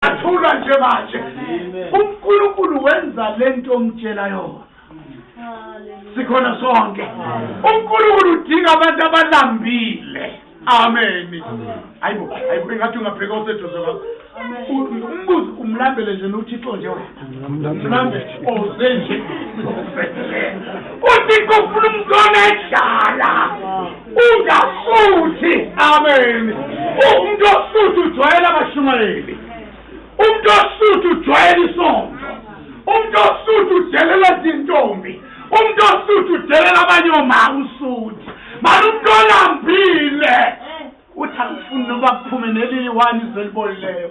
Athulwa nje manje. UNkulunkulu wenza lento omtshela yona. Sikhona sonke. UNkulunkulu udinga abantu abalambile. Amen. Hayibo, hayibo ngathi ungabheka oseduze kwakho. Umbuzo umlambele nje noThixo nje wena. Mame uze nje uthi kufuna umntwana edlala ungasuthi amen umuntu osuthi ujwayela abashumayeli umuntu osuthi ujwayela isonto umuntu osuthi udelela izintombi umuntu osuthi udelela abanye omama usuthi mani umuntu olambile uthi angifuni noba kuphume neliyi wani izwe libolileyo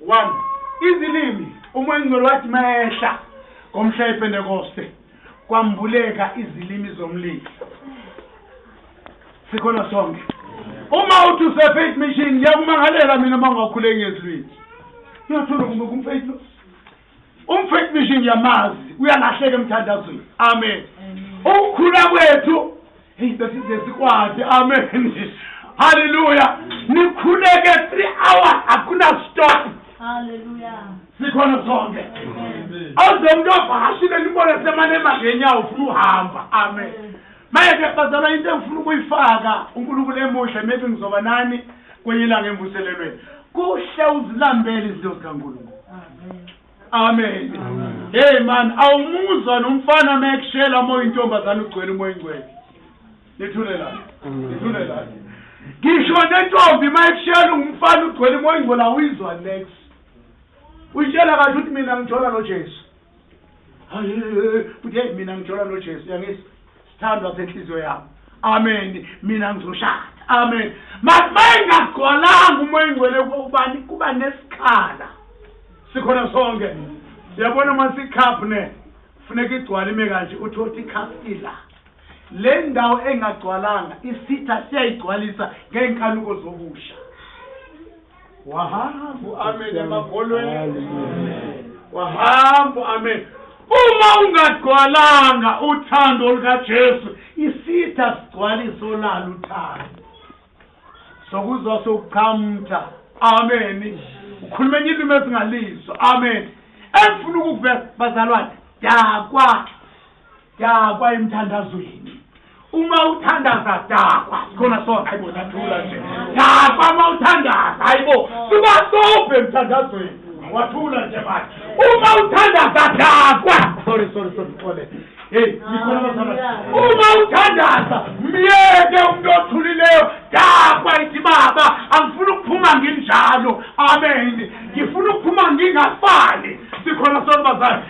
One, izilimi, umoyingcwele wathi mayehla ngomhla yepentekoste kwambuleka izilimi zomlilo sikhona sonke uma uthi usefaith mission ngiyakumangalela mina uma ungakhuleki ngezilwini uyothula kumbe kumfaith lo Umfethu misho ngiyamazi uyalahleka emthandazweni. Amen. Ukukhula kwethu hey besize sikwade. Amen. Hallelujah. Nikhuleke 3 hours akuna stop. Hallelujah. Sikhona sonke. Awuze umuntu ovakashile nibone semane emangenyawo ufuna uhamba. Amen. Manje ke bazalwa into engifuna ukuyifaka uNkulunkulu emuhle maybe ngizoba nani kwenye ilanga emvuselelweni kuhle uzilambele izinto zikaNkulunkulu amen hey man awumuzwa nomfana uma ekushela uma uyintombazane ugcwele umoya ingcwele nithulelani nithulelani ngisho nentombi uma ekushela ungumfana ugcwele umoya ingcwele awuyizwa next uyitshela kathi ukuthi mina ngithola nojesu Bhuti mina ngithola noJesu yangizwa. Sithandwa senhliziyo yami. Amen. Mina ngizoshada. Amen. Masingagcwalanga umoya ingcwele kubani kuba nesikhala. Sikhona sonke. Yabona masikhaphu ne. Funeka igcwale ime kanje uthi othi ikhaphu ila. Le ndawo engagcwalanga isitha siyayigcwalisa ngeenkanuko zokusha. wahamba uamen emakholweni wahamba uamen uma ungagcwalanga uthando lukajesu isitha sigcwala isolala uthando sokuzwa sokuqhamtha amen ukhuluma enye ilimi ezingalizwa amen engifuna ukukuveza bazalwane dakwa Dakwa emthandazweni. Uma uthandaza dakwa. Khona so hayibo sathula nje. Dakwa uma uthandaza hayibo. Siba sobhe emthandazweni. Wathula nje manje. Uma uthandaza dakwa. Sorry sorry sorry xole. Hey, nikhona bazana. Uma uthandaza myeke umuntu othulileyo dakwa ithi baba angifuni ukuphuma nginjalo. Amen. Ngifuna ukuphuma ngingafani. Sikhona sonke bazana.